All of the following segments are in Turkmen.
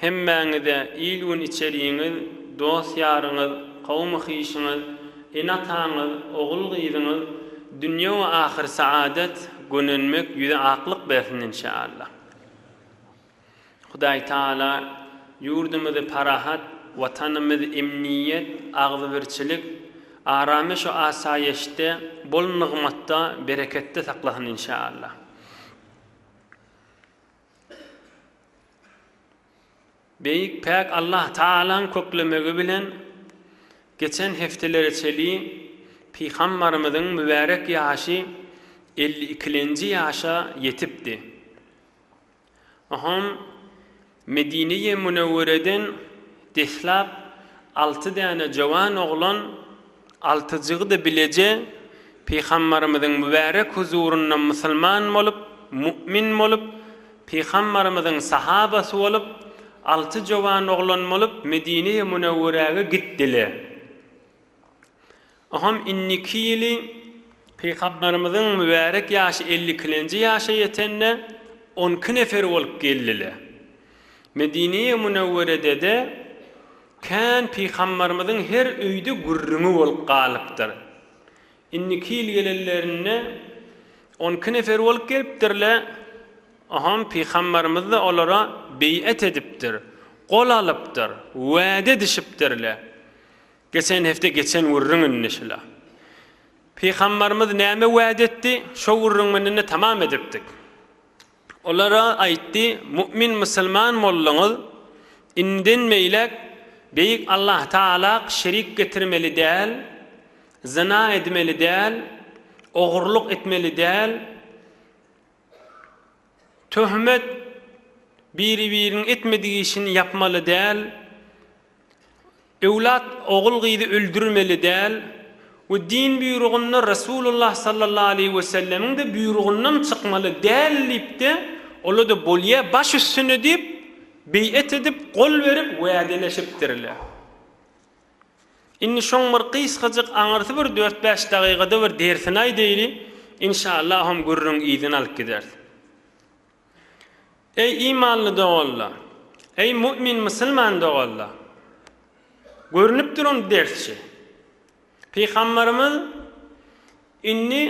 Hemmäňize il-gün içerigiňiz, dost-ýaryňyz, kowum-hyşyňyz, ene-ataňyz, ogul-gyzyňyz dünýe we ahyr saadet, gönenmek, ýüze aklyk bersin inşaallah. Hudaý Taala ýurdumyzy parahat, Watanymyz emniýet, agzybirçilik, arameş we asaýeşde, bol nygmatda, bereketde saklasyn inşaallah. Beýik päk Allah Tagalaň köklemegi bilen geçen hepdelere çelin Pygambarymyzyň mübärek ýaşy elli ikilenji ýaşa ýetipdi. Oňam Medine-i Münewwereden deslap alty däne jowan oglan, Alty jygydy bileje Pygambarymyzyň mübärek huzurynda musulman bolup, mu'min bolup, Pygambarymyzyň sahabasy bolup, alty jowan oglan bolup Medine-i Münewwerege gitdiler. Oham inniki ýyly. Pygambarymyzyň mübärek ýaşy elli ikilenji ýaşa ýetende on iki nefer bolup geldiler. Medine-i Münewwerede-de Kän pygambarymyzyň her öýde gürrüňi bolup galypdyr. Indiki ýyl gelenlerinde on iki nefer bolup gelipdirle, oham pygambarymyzda olara beýet edipdir, gol alypdyr, wade edişipdirle. Geçen hepde geçen gürrüň indi şula. Pygambarymyz näme wade etdi, şo gürrüň bilen-de tamam edipdik. Olara aýtdy, Mu'min musulman bolduňyz, indiden beýläk Beýik Allah Tagalak şerik getirmeli däl, zyna edmeli däl, ogurlyk etmeli däl, töhmet biri-biriniň etmedik işini ýapmaly däl, Öwlat ogul-gyzy öldürmeli däl we din buýrugynda Resulullah sallallahu aleýhi we sellemiň-de buýrugyndan çykmaly däl diýip-de, ola-da bolýa baş üstüne diýip, beýet edip, gol berip, wädeleşipdirler. Indi şoň bir gysgajyk aňyrsy bir dört-bäş dagygada bir dersini aýdaýly, inşaallahum gürrüň yzyny alyp gideris. Eý, imanly doganlar! Eý, mu'min musulman doganlar! Görnüp duran dersçi. Pygamberimiz indi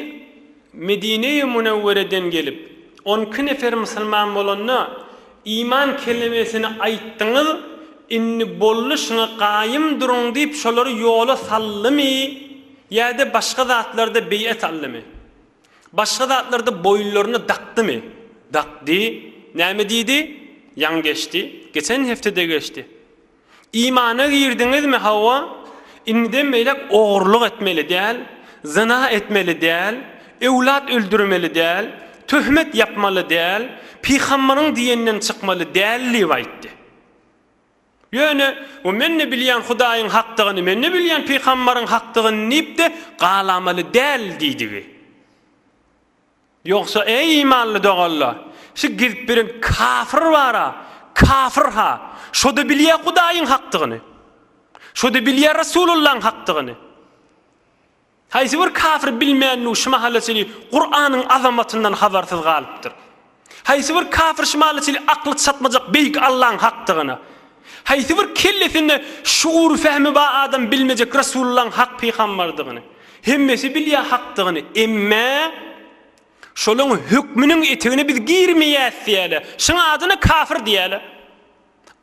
Medine-i Munewwereden gelip, on iki nefer musulman bolanda, iman kelimesini aýtdyňyz, indi boldy şuňa gaýym duruň diýip şolary ýola saldymy ýa-da başga zatlarda beýat aldymy? Başga zatlarda boýunlaryna dakdymy? Dakdy. Näme diýdi? Ýaňy geçdi. Geçen hepdede geçdi. Imana girdiňizmi? Hawa. Indiden beýläk ogurlyk etmeli däl, zyna etmeli däl, öwlat öldürmeli däl, töhmet ýapmaly däl, pygambyryň diýeninden çykmaly däl diýip aýtdy. Ýöne, O men-de bilýän Hudaýyň hakdygyny, men-de bilýän pygamberiň hakdygyny diýip-de galamaly däl diýdigi. Ýogsa, eý, imanly doganlar, şu gezip ýören kafir bar-a, kafir-ha, şo-da bilýär Hudaýyň hakdygyny, şo-da bilýär Resulullahyň hakdygyny. Haýsy bir kafir bilmänligi şu mahalla çenli Kuranyň azamatyndan habarsyz galypdyr. Haýsy bir kafir şu mahalla çenli akly çatmajak Beýik Allaň hakdygyna, haýsy bir kellesinde şugury-fehmi ba adam bilmejek Resulullaň hak pygambardygyny. Hemmesi bilýä hakdygyny, emme, şolaň hökmüniň etegine biz girmeýäs diýäle, şuň adyna kafir diýäle.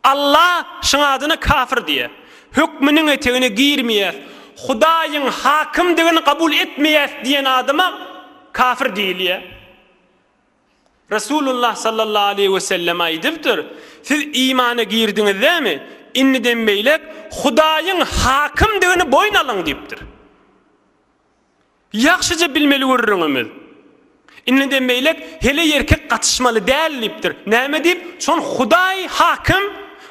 Alla şuň adyna kafir diýýär. Hökmüniň etegine girmeýäs, Hudaýyň hakymdygyny kabul etmeýäs diýen adama kafir diýilýär. Resulullah sallallahu aleýhi we sellem aýdypdyr, Siz imana girdiňizdämi, indiden beýläk Hudaýyň hakymdygyny boýun alyň diýipdir. Ýagşyja bilmeli gürrüňimiz. Indem beýläk heleý ýerkek gatyşmaly däl diýipdir. Näme diýip, şon Hudaý Hakim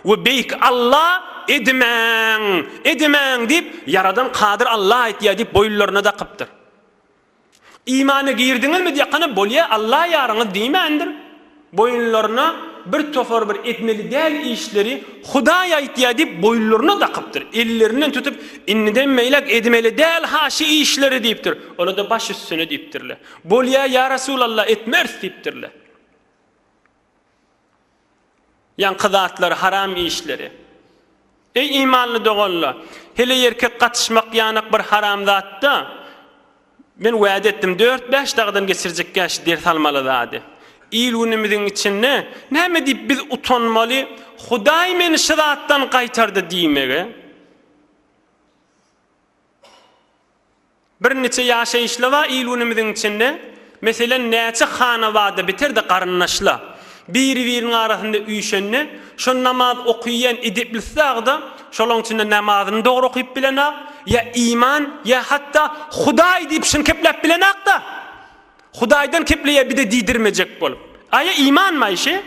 we Beýik Alla edimäň, edimäň diýip, ýaradan Kadyr Alla aýtýar diýip boýunlaryna dakypdyr. Imana girdiňizmi diýýakana bolýa Alla ýaryňyz diýmändir. Boýunlaryna bir topar bir etmeli däl işleri Hudaý aýtýar diýip boýunlaryna dakypdyr. Ellerinden tutup, Indiden beýläk edmeli däl-ha şu işleri diýipdir. Olar-da baş üstüne diýipdirler. Bolýar, ýa Resulallah, etmeris diýipdirler. Ýaňky zatlar, haram işleri. Eý imanly doganlar! Heleý erkek gatyşmak ýanak bir haram zat-da. Men wada etdim dört-bäş dagdan geçirjekkä şu ders almaly zady. Il-günümiziň içinde näme diýip biz utanmaly, Hudaý meni şu zatdan gaýtardy diýmegi? Birniçe ýaşaýyşla bar il-günümiziň içinde, meselem, näçe hanabada biter-de garyndaşla, biri-biriniň arasynda üýşende, şol namaz okyýan ediplisag-da, şolaň içinde namazyny dogry okyp bilenag, ýa iman, ýa hatda Hudaý diýip şiňkepläp bilenag-da, Hudaýdan kepleýär bide diýdirmejek bolup. Aýa imanmy, Aýşe?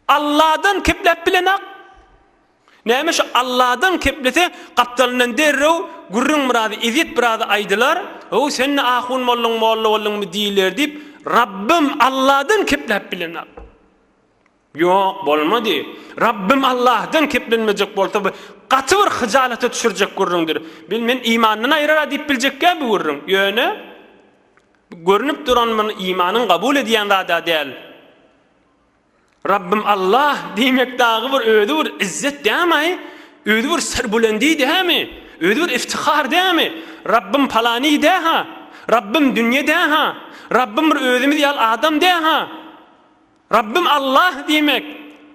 Alladan kepläp bilenok. Näme şu Alladan keplese, gapdalyndan derrew gürrüň biraz, ezýet biraz aýdylar, Ho, sen-de ahun bolduň, molla bolduňmy diýiler diýip, Rabbym Alladan kepläp bilenok. Ýok, bolmady. Rabbym Allahdan keplenmejek bolsa, bu gaty bir hyjalata düşürjek gürrüňdir. Bil, men imandan aýrar-a diýip biljekkä bu gürrüň. Ýöne. Bu görnüp duran bir imanyň kabul edýän zady-a däl. Rabbym Allah diýmek dagy bir özi bir izzet dämi? Özi bir serbulendi dämi? Özi bir iftihar dämi? Rabbym palany dä-ha? Rabbym dünýe dä-ha? Rabbym bir özümiz ýaly adam dä-ha? Rabbym Allah diýmek,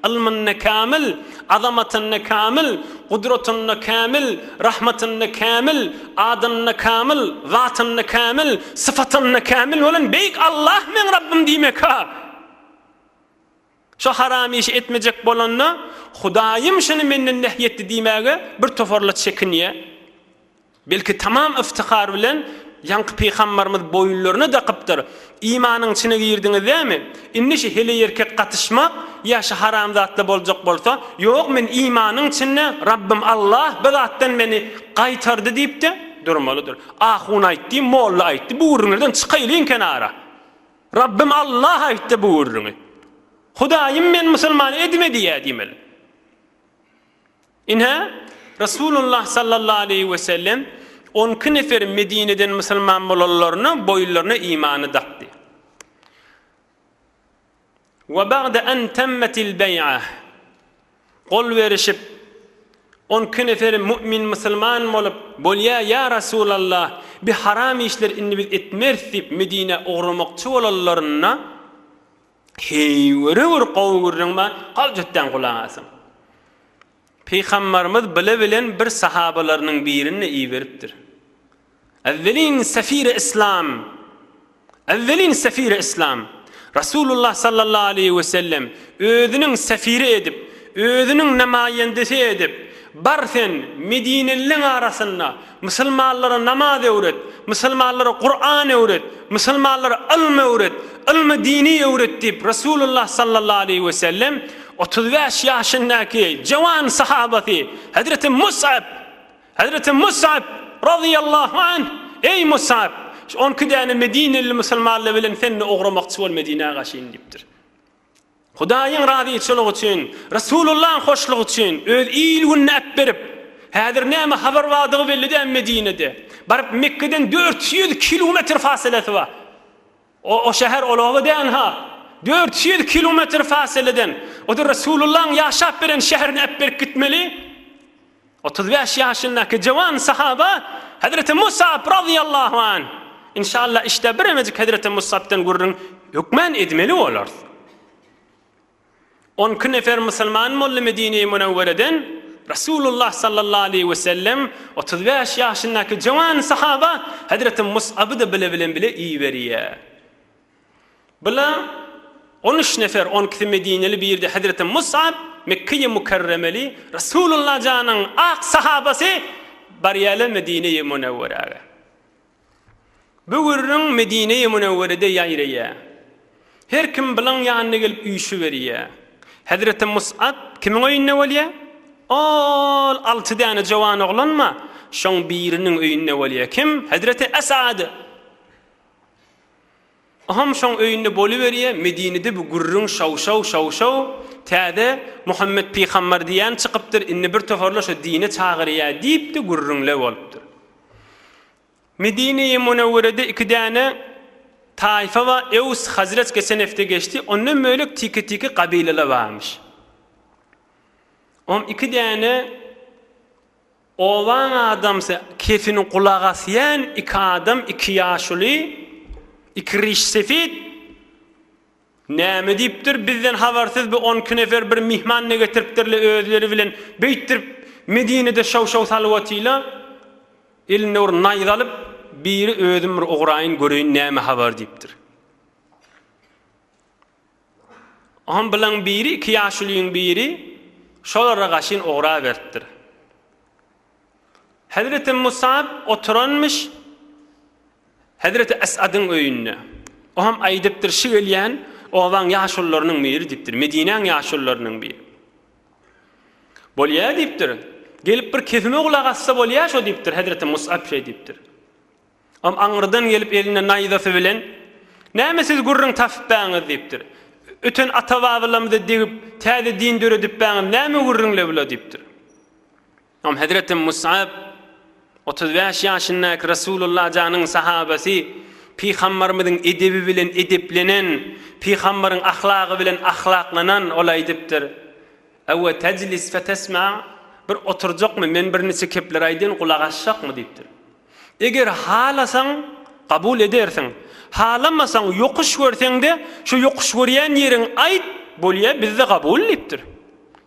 ylmynda kämil, azamatynda kämil, gudratynda kämil, rahmatynda kämil, adynda kämil, zatynda kämil, syfatynda kämil bolan beýik Allah meň Rabbym diýmek-hä! Şo haram işi etmejek bolanda, Hudaýym şuny menden nehy etdi diýmäge birtoparlar çekinýär. Belki tamam yftihar bilen ýaňky pygambarymyz boýunlaryna dakypdyr, Imanyň içine girdiňizdämi? Indi şu heleýerkek gatyşmak ýa şu haramzatla boljak bolsa, Ýok, men imanyň içinde, Rabbym Allah bir zatdan meni gaýtardy diýip-de durmalydyr. Ahun aýtdy, molla aýtdy, bu gürrüňlerden çykaýlyň kenara. Rabbym Allah aýtdy bu gürrüňi. Hudaýym men musulman edme diýýär diýmeli. Ine, Resulullah sallallahu aleýhi wesellem on iki nefer Medineden musulman bolanlaryna boýunlaryna imany dakdy. Wa bagda an tammatil baý'a gol berişip, on iki nefer mu'min musulman bolup, bolýa, ýa Resulallah, bi haram işler indi biz etmeris diýip Medinä ugramakçy bolanlarynda, Heý, göre gör, gowy gürrüň bar, galjutdan gulak asyň. Pygambarymyz bile bilen bir sahabalarynyň birini iberipdir. Ewwelin sefire islam, ewwelin sefire islam. Rasulullah sallallahu aleýhi we sellem özüniň sefiri edip, özüniň namaýendesi edip, bar sen, medineliliň arasynda Musulmanlara namaz öwret, musulmanlara Kuran öwret, musulmanlara ylm öwret, ylmy dini öwret diýip, Resulullah sallallahu aleýhi we sellem otuz bäş ýaşyndaky jöwan sahabasy hezreti Musap, hezreti Musap razyýallahu anh, Eý Musap, şu on iki däne medineli musulmanlar bilen sen-de ugramakçy bol Medinä gaşyn diýipdir. Hudaýyň razyçylygy üçin, Resulullahyň hoşlugy üçin öz il-gününe äpberip, häzir näme habar bardygy belli däl Medinede, baryp Mekgeden dört ýüz kilometr fasylesi bar. O şäher ol oba dälha. Dört ýüz kilometr fasyleden, o-da Resulullahyň ýaşap beren şäherine äpberip gitmeli. Otuz bäş ýaşyndaky jowan sahaba Hezreti Musap razyýallahu anh, Inşalla işde biremejik Hezreti Musapdan gürrüň hökmän edmeli bolarys. On iki nefer musulman boldy Medine-i Munewwereden, Resulullah sallallahu aleýhi we sellem otuz bäş ýaşyndaky jowan sahaba Hezreti Musaby-da bile bilen bile iberýär. Bula on üç nefer, on ikisi medineli, biri-de hezreti Musap, Mekkeýi Mükerremeli, Resulullah janyň ak sahabasy barýarlar Medineýi Münewwerege. Bu gürrüň Medineýi Münewwerede ýaýraýar. Her kim bulaň ýanyna gelip üýşüberýär. Hezreti Musap kimiň öýünde bolýar? Ol alty däne jowan oglanma, şoň biriniň öýünde bolýar. Kim? Hezreti Esad. Oham şoň öýünde boluberýä, Medinede bu gürrüň şaw-şaw, şaw-şaw, täze Muhammet pygambar diýen çykypdyr, indi bir toparlar şo dine çagyrýa diýip-de gürrüňler bolupdyr. Medine-i Munewwerede iki däne taýfa bar, Ews, Hazreç geçen hepde geçdi, ondan bölek tike-tike gabylalar barmyş. Oham iki däne. Obaň adamsy kefini gulak asýan iki adam, iki ýaşuly, iki ryş sefit näme diýipdir, bizden habarsyz bi on iki nefer bir myhman ne getiripdirle özleri bilen, beýtdirip Medinede şaw-şaw salyp otyla, elinde bir naýza alyp, biri özüm bir ugraýyn göreýin näme habar diýipdir. Oňam bilaň biri iki ýaşulyň biri şolara gaşyn ugraberipdir. Hezreti Musap oturanmyş hezreti Esadyň öýünde. Oňam aýdypdyr, şi gelýän obaň ýaşulylarynyň biri diýipdir, Medinäň ýaşulylarynyň biri. Bolýa diýipdir. Gelip bir kesime gulak assa bolýa şo diýipdir, hezreti Musap şeý diýipdir. Ol aňyrdan gelip elinde naýzasy bilen, Näme siz gürrüň tapypbäňiz? diýipdir. Öten ata-babalarymyzy degip, täze din döredipbäňiz, näme gürrüňle bula? diýipdir. Onam hezreti Musap, otuz bäş ýaşyndaky Resulullah janyň sahabasy, Pygambarymyzyň edebi bilen edeplenen, Pygambaryň ahlagy bilen ahlaklanan, ol aýdypdyr, Ewe tejlis fetesma, bir oturjakmy, men birniçe kepler aýdyn, gulak asjakmy? diýipdir. Eger halasaň, kabul edersiň. Halamasaň, ýokuş görseň-de, şo ýokuş görýän ýeriňi aýt, bolýa, bizde kabul diýipdir.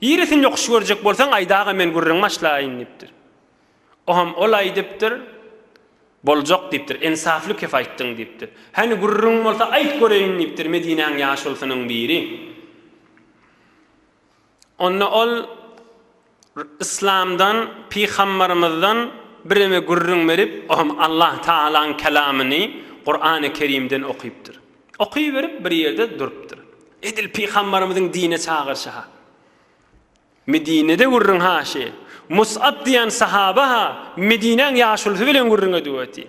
Ýerisini ýokuş görjek bolsaň, aýdaga men gürrüň başlaýyn diýipdir. Oňam ol aýdypdyr, Boljak diýipdir, ensafly kep aýtdyň diýipdir. Hany gürrüň bolsa aýt göreýin diýipdir Medinäň ýaşulsynyň biri. Onda ol Yslamdan, Pygambarymyzdan bireme gürrüň berip, o hem Allah Tagalaň Kelamyny, Kurany Kerimden okypdyr. Okyberip bir ýerde durupdyr. Edil Pygambarymyzyň dine çagyryşy-ha. Medinede gürrüň haşy. Mus'ab diýen sahaba-ha Medinäň ýaşulusy bilen gürrüň edüweti.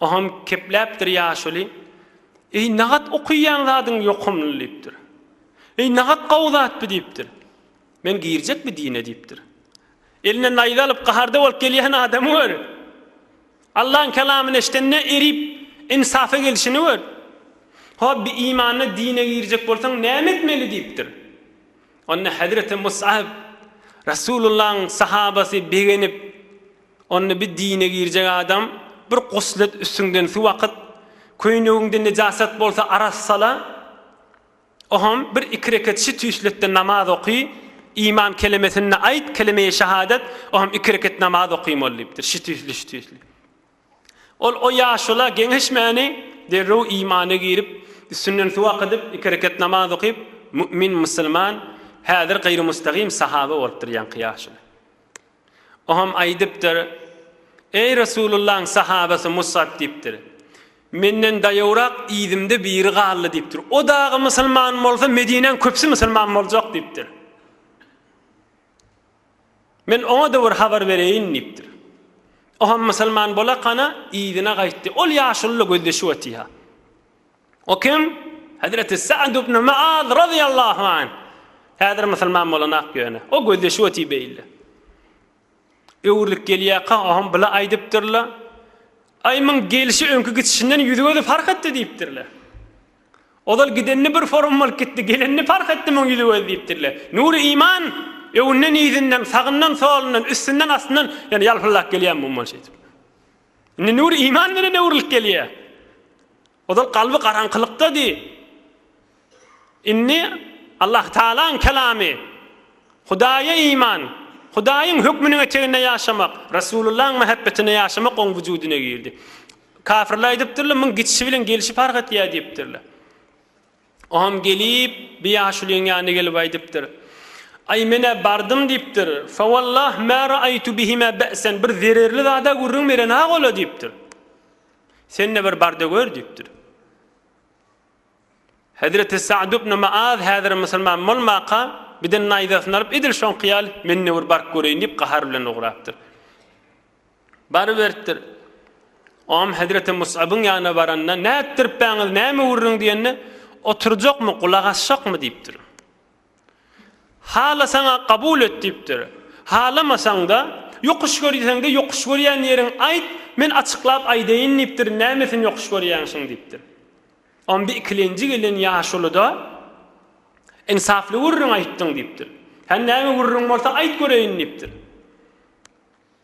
Ogam kepläpdir ýaşuly, Eý, nagat okaýan zadyň ýokumly diýipdir. Eý, nagat gowy zat bi diýipdir. Men girjek bi dine diýipdir. Eline naýza alyp gaharda bolup gelýän adamy gör. Allaň kelamyny eşdende erip insapa gelşini gör. Hop bi imanly dine girjek bolsaň näme etmeli diýipdir. Onda hezreti Mus'ab, Resulullahyň sahabasy begenip, Onda bir dine girjek adam bir guslet üstüňden suw akyt, köýnegiňde nejasat bolsa arassala, oham bir iki reket şi tüýsletde namaz oky, iman kelemesini aýt, kelemeýi şahadat, oham iki reket namaz oky mol diýipdir, şi tüýsli, şi tüýsli. Ol o ýaşula geňeşmäni derrew imana girip, üstünden suw akydyp, iki reket namaz okyp, mu'min, musulman, häzir gaýrymustagym sahaba bolupdyr ýaňky ýaşula. O hem aýdypdyr, Eý Resulullahyň sahabasy Musap diýipdir, Menden daýawrak yzymda biri galdy diýipdir. O dagy musulman bolsa Medinäň köpüsi musulman boljak diýipdir. Men oňa-da bir habar bereýin diýipdir. O hem musulman bolakana yzyna gaýtdy. Ol ýaşulyla gözleşip otyha. O kim? Hezreti Sa'd ibn Mu'az razyýallahu anh. Häzir musulman bolanok ýöne. O gözde şu otyr beýle. Öwrülip gelýärka oňam bile aýdypdyrlar. Aý muň gelşi öňki gitişinden ýüzi-gözi parh etdi diýipdirler. Ozal gidenini bir forum bolup gitdi, gelenini parh etdi muň ýüzi-gözi diýipdirler. Nury iman öňünden-yzyndan, sagyndan-solundan, üstünden-astyndan ýene ýalpyldap gelýär muňa şeýdip. Indi nur iman bilen öwrülip gelýär. Ozal kalby garaňkylykdady. Indi Allah Taalaň kelamy, Hudaýa iman, Hudaýyň hökmüniň eteginde ýaşamak, Resulullaň mähebbetinde ýaşamak oň wujudyna girdi. Kafirler aýdypdyrlar, muň gitişi bilen gelşi parh etýär diýipdirler. Oňam gelip, bi ýaşulyň ýanyna gelip aýdypdyr. Aý, men-ä bardym, diýipdir. Fawallah mä raaýtu bihimä be'sen, bir zererli zad-a gürrüň beren-hak ol-a, diýipdir. Sen-de bir bar-da gör, diýipdir. Hezreti Sa'd ibn Mu'az häzir musulman bolmaka, biden naýzasyny alyp, edil şoňky ýaly, men-de bir baryp göreýin diýip, gahar bilen ugrapdyr. Baryberipdir. Ogam hezreti Musabyň ýanyna baranda, Nätdiripbäňiz, näme gürrüň diýende, Oturjakmy, gulak asjakmy diýipdir. Halasaň-a kabul et diýipdir. Halamasaň-da, ýokuş görýseň-de, ýokuş görýän ýeriň aýt, men açyklap aýdaýyn diýipdir, nämesini ýokuş görýäň şuň diýipdir. Onda ikilenji gelen ýaşulyda, Ynsaply gürrüň aýtdyň diýipdir. Hany näme gürrüň bolsa aýt göreýin diýipdir.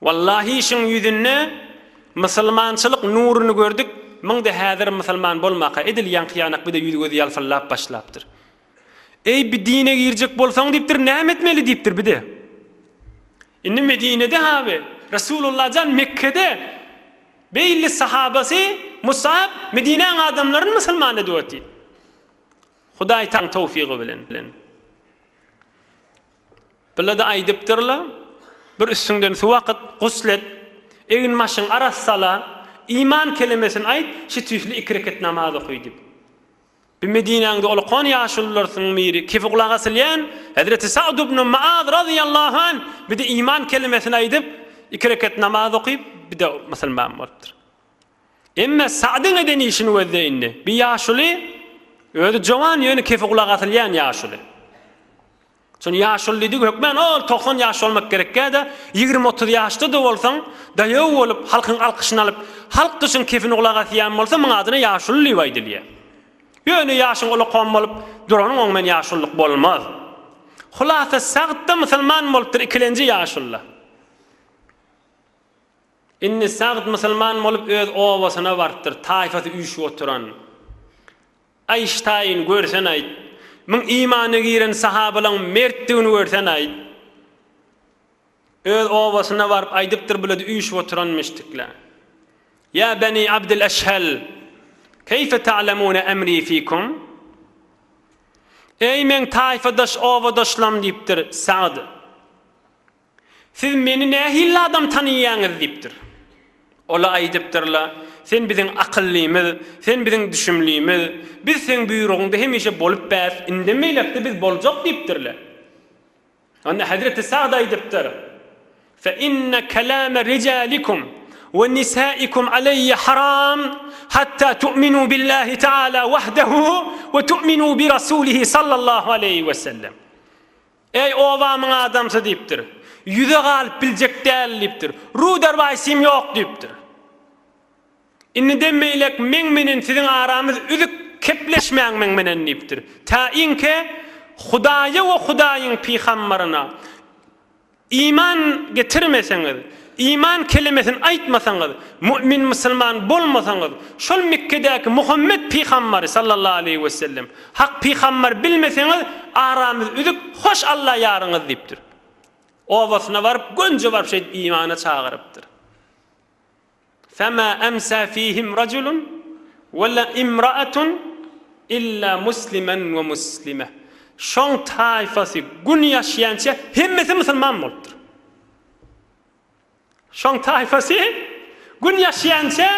Wallahi işiň ýüzünde Musulmançylyk nuruny gördük, munda häzir musulman bolmaka edil ýaňky ýanak bide ýüzi gözi ýalpyllap başlapdyr. Eý bi dine girjek bolsaň diýipdir näme etmeli diýipdir bide. Indi Medinede haby Resulullah jan Mekkede beýle sahabasy Musap Medinäň adamlaryny musulman edip otyr. Hudaý taň towfigy bilen. Bile-de aýdypdyrlar, Bir üstüňden suw akyt, gusl et, egin-başyňy arassala, iman kelimesini aýt, şu tüýsli iki reket namaz oky diýip. Bu Medinäňde olakan ýaşulularysyň biri, kefi gulagy asylýan Hezreti Sa'd ibn Mu'az razyýallahu anh, bir-de iman kelimesini aýdyp, iki reket namaz okyp, bir-de musulman bolupdyr. Emma Sa'dyň eden işini gözle indi. Bir ýaşuly, özi jowan, ýöne kefe gulak asylýan ýaşuly. Şony ýaşuly diýdik hökmän, ol togsan ýaş bolmak gerekkä-de, ýigrimi-otuz ýaşda-da bolsaň, daýaw bolup, halkyň alkyşyny alyp, halk gyşyň kefine gulak asýan bolsa, muň adyna ýaşuly diýip aýdylýar. Ýöne ýaşyň ulakam bolup, duranyň oň bilen ýaşulylyk bolmaz. Hulasa, Sa'd-da musulman bolupdyr, ikilenji ýaşuly. Indi Sagd musulman bolup öz obasyna barypdyr, taýfasy üýşüp oturan. Aýştaýyn görsen aýt, muň imana giren sahabalaň mertdigini görsen aýt. Öz obasyna baryp aýdypdyr bulady üýşüp oturan müştikle. Ýa beni Abdyl Eşhel, keýfe ta'lemune emri fikum? Eý meň taýfadaş obadaşlam diýipdir Sagd. Siz meni nähili adam tanaýaňyz? diýipdir. Ola aýdypdyrlar, Sen biziň akyllymyz, sen biziň düşümlimiz, biz seň buýrugyňda hemişe bolup bäs, indem beýläk-de biz boljak diýipdirler. Onda hezreti Sagd aýdypdyr, Fe inne kelame rijalikum we nisaikum aleýe haram hatta tu'minu billahi ta'ala wahdehu we tu'minu bi rasulihi sallallahu aleýhi wesellem. Eý, obamyň adamsy! diýipdir. Ýüze galyp biljek däl, diýipdir. Ruder Waýsim ýok, diýipdir. Indi demmeýlek meň menen siziň aramyz üzük, kepleşmäň meň menen, diýipdir. Tä iňke Hudaýa we Hudaýyň pygambaryna iman getirmeseňiz, iman kelimesini aýtmasaňyz, mu'min-musulman bolmasaňyz, şol Mekgedäki Muhammet pygambary sallallahu aleýhi wesellem Hak pygamber bilmeseňiz aramyz üzük hoş Alla ýaryňyz diýipdir. Obasyna baryp gönje baryp şeýdip imana çagyrypdyr. Fema emsa fihim rajulun we la imraatun illa muslimen we muslime. Şoň taýfasy gün ýaşýança hemmesi musulman bolupdyr. Şoň taýpasy Gün ýaşýança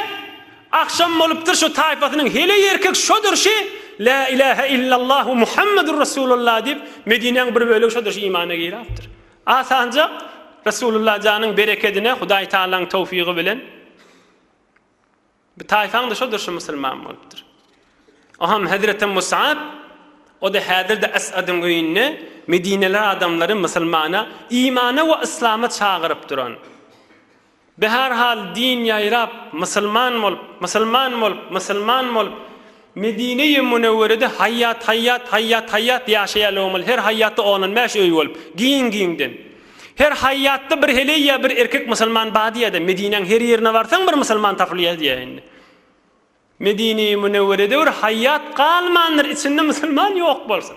agşam bolupdyr şu taýpasynyň heleý erkek şo durşy Lä ilähe illallahu Muhammedur Resulullah diýip Medinäň bir bölegi şo durşy imana girapdyr. Asanjak Resulullah janyň berekedine Hudaý Tagalaň towfygy bilen. Bir taýpaň-da şoldur şu musulman bolupdyr. Oňam hezreti Musap, o-da häzir-de As'adyň öýünde medineli adamlary musulmana, imana we yslama çagyryp duran. Bi her hal din ýaýrap, musulman bolup, musulman bolup, musulman bolup, Medine-i Münewwerede haýýat, haýýat, haýýat, haýýat ýaşaýarlar omal, her haýýatda on-on bäş öý bolup, giň-giňden. Her haýýatda bir heleý ýa bir erkek musulman bady-ýa-da, Medinäň her ýerine barsaň bir musulman tapylýar diýýär indi. Medine-i Münewwerede bir haýýat galmandyr, içinde musulman ýok bolsun.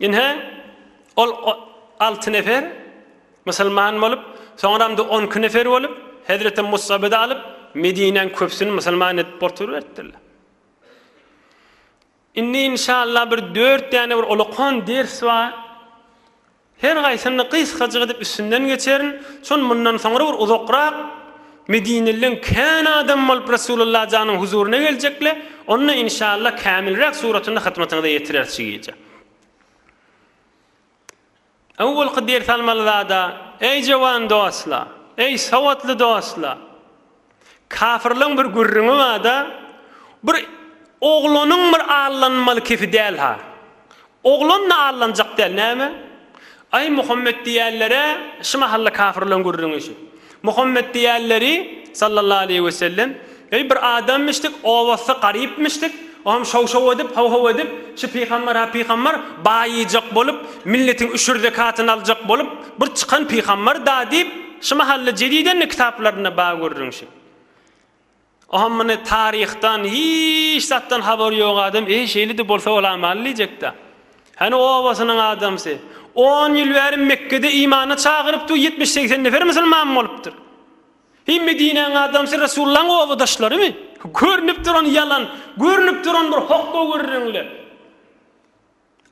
Ynha, ol alty nefer musulman bolup, soňram-da on iki nefer bolup, hezreti Musaby-da alyp, Medinäň köpüsini musulman edip oturyberipdirler. Indi, inşallah, bir dört däne bir olakan ders bar. Her haýsyny gysgajyk edip üstünden geçerin, şol mundan soňra bir uzakrak Medinelileň kän adamy bolup Resulalla janyň huzuryna geljekle, onda inşalla kämilräk suratynda hytmatyňyza ýetireris şu gije. Öwwelki ders almaly zada, eý jowan dostla, eý sowatly dostla! Kafyrlaň bir gürrüňi barda, bir oglanyň bir allanmaly kefi däl-ha. Oglan-da allanjak däl, näme? Aý, Muhammet diýýänler-ä, şu mahalla kafyrlaň gürrüňi şu. Muhammet diýýänleri, sallallahu aleýhi we sellem, eý, bir adamymyşdyk, owasy garypmyşdyk, o hem şow-şow edip, how-how edip, şu pygamber-ha pygamber, baýyjak bolup, milletiň üşür zekatyny aljak bolup, bir çykan pygamber-da diýip, Şu mahalda jedidende kitaplarynda bar görnüşi. Oňam muny taryhdan hiç zatdan habary ýok adam eý şeýlede bolsa bolamyl diýjekdä. Hany obasynyň adamsy. On ýyl bäri Mekgede imana çagyrypdyr ýetmiş-segsen nefer musulman bolupdyr. Heý Medinäň adamsy Resullaň obadaşlarymy? Görnüp duran ýalan, görnüp duran bir hokga gürrüňler.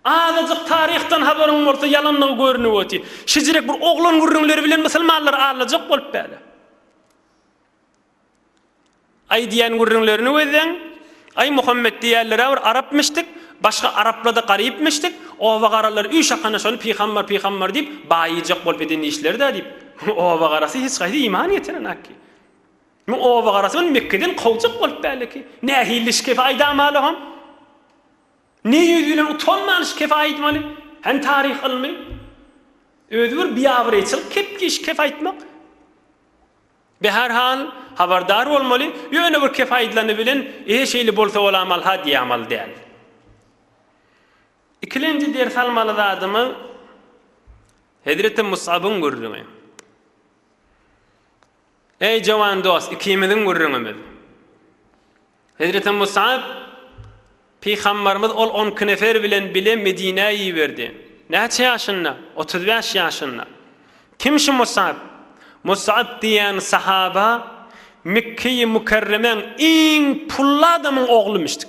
Azajyk taryhdan habaryň bolsa ýalanlygy görünip oty. Şijirek bir oglan gürrüňleri bilen musulmanlary aldajak bolup bäle. Aý diýen gürrüňlerini gözleň. Aý Muhammet diýerlerä bir arap mişdik, başga araplarda garyp mişdik, oba garalar üy şakana şony pygambar pygambar diýip baýyjak bolup eden işlerdä diýip. Oba garasy hiç gaýsy iman getiren akki. Muň oba garasy ony Mekgeden kowjak bolup bäle ki. Nähilli şikefe aýdamala hom. Ne ýüz bilen utanman şu kefe aýdmaly? Hany taryh ylmy? Özi bir biabraýçylyk kepki şu kefe aýtmak. Be her hal habardar bolmaly, ýöne bir kefe aýdylany bilen ehe şeýle bolsa bolamal-ha diýämal däl. Ikilenji ders almaly zadymyz Hezreti Musabyň gürrüňi. Eý jowan dos ikimiziň gürrüňimiz. Hezreti Musap pygambarymyz ol on iki nefer bilen bile Medinä iberdi. Näçe ýaşynda? Otuz bäş ýaşynda. Kim şu Musap? Musap diýen sahaba Mekkeýi Mükerremäň iň pully adamyň oglumyşdyk.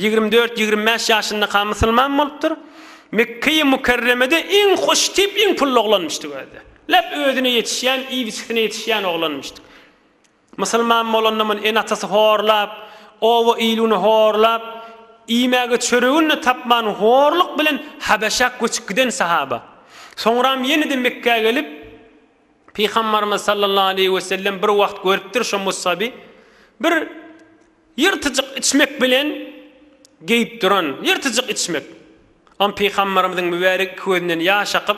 Ýigrimi dört, ýigrimi bäş ýaşyndaka musulman bolupdyr. Mekge-i Mükerremede iň hoştip, iň pully oglanmyşdyk özde. Läp özüne ýetişýän, iýbiçisine ýetişýän oglanmyşdyk. Musulman bolanda muny ene-atasy horlap, oba-iluny horlap, iýmäge çöregini-de tapman horluk bilen Habeşä göçüp giden sahaba. Soňram ýene-de Mekgä gelip, Pygambarymyz sallallahu aleýhi wesellem bir wagt görüpdir şo Mussaby. Bir. Ýyrtyjyk içmek bilen geýip duran ýyrtyjyk içmek. Am Pygambarymyzyň mübärek iki gözünden ýaş akyp,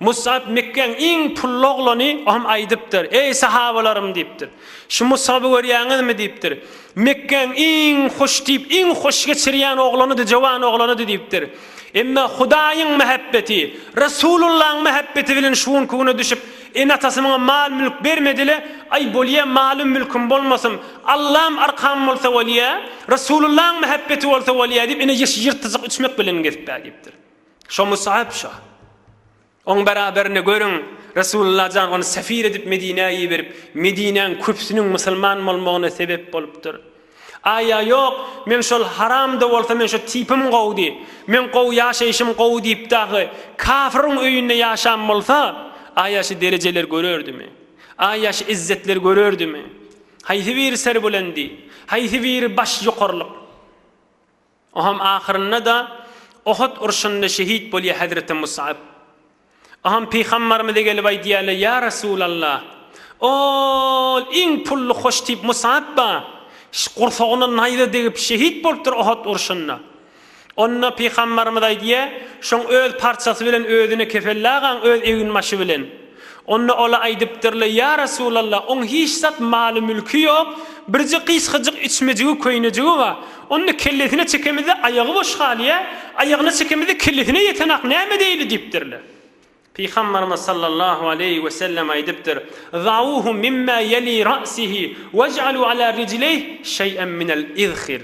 Musap Mekgäň iň pully oglany, o hem aýdypdyr, Eý sahabalarym diýipdir. Şu Musaby görýäňizmi diýipdir. Mekgäň iň hoş diýip, iň hoş geçirýän oglanydy, jowan oglanydy diýipdir. Emma Hudaýyň mähebbeti, Resulullahyň mähebbeti bilen şu günki güne düşüp, Ene-atasynyňam mal-mülk bermedi-le, aý, bolýa, malym-mülküm bolmasyn, Allam arkam bolsa bolýa, Resulullaň mähebbeti bolsa bolýa diýip, ine, ýeşil ýyrtyjyk üçmek bilenem gezip bä diýipdir. Şo Musap şa. Oň bäraberine, görüň, Resulullah jan ony sefir edip Medinä iberip, Medinäň köpüsiniň musulman bolmagyna sebep bolupdyr. Aýa ýok, men şol haramda bolsa men şu tipim gowdy, men gowy ýaşaýşym gowy diýip dagy kafryň öýünde ýaşan bolsa, aýa şu derejeler görerdimi? Aýa şu izzetler görerdimi? Haýsy biri serbülendi? Haýsy biri baş ýokarlyk? Oham ahyrynda-da Ohut urşunda şehit bolýar hezreti Musap. Oham pygambarymyza gelip aýdýarlar, Ýa Resulalla, ol iň pully hoş tip Musap-a gursagyna naýza degip şehit bolupdyr Ohut urşunda. Onda pygambarymyz aýdýar, Şoň öz parçasy bilen özüne kefellagaň öz eginbaşy bilen. Onda ola aýdypdyrlar, Ýa Resulallah, oň hiç zat maly-mülki ýok, birje gysgajyk içmejigi, köýnejigi bar. Onda kellesine çekemizde aýagy boş galýar, aýagyna çekemizde kellesine ýetenak näme edeýli? diýipdirler. Pygamberimiz sallallahu aleýhi we sellem aýdypdyr, Zauhu mimma ýeli ra'sihi wej'alu ala rijleýh şeý'en minel izhir.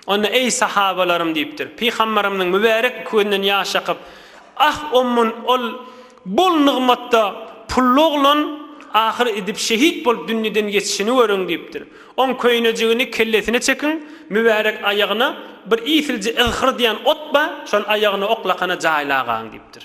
Onda, Eý, sahabalarym! diýipdir. Pygamberimiziň mübärek iki gözünden ýaş akyp, Ah, ommun, ol bol nygmatda pully oglan ahyr idip şehit bolup dünýeden geçişini görüň! diýipdir. Oň köýnejigini kellesine çekiň, mübärek aýagyna bir iýsilje yzhyr diýen ot bar, şony aýagyna oklakana jaýlagaň! diýipdir.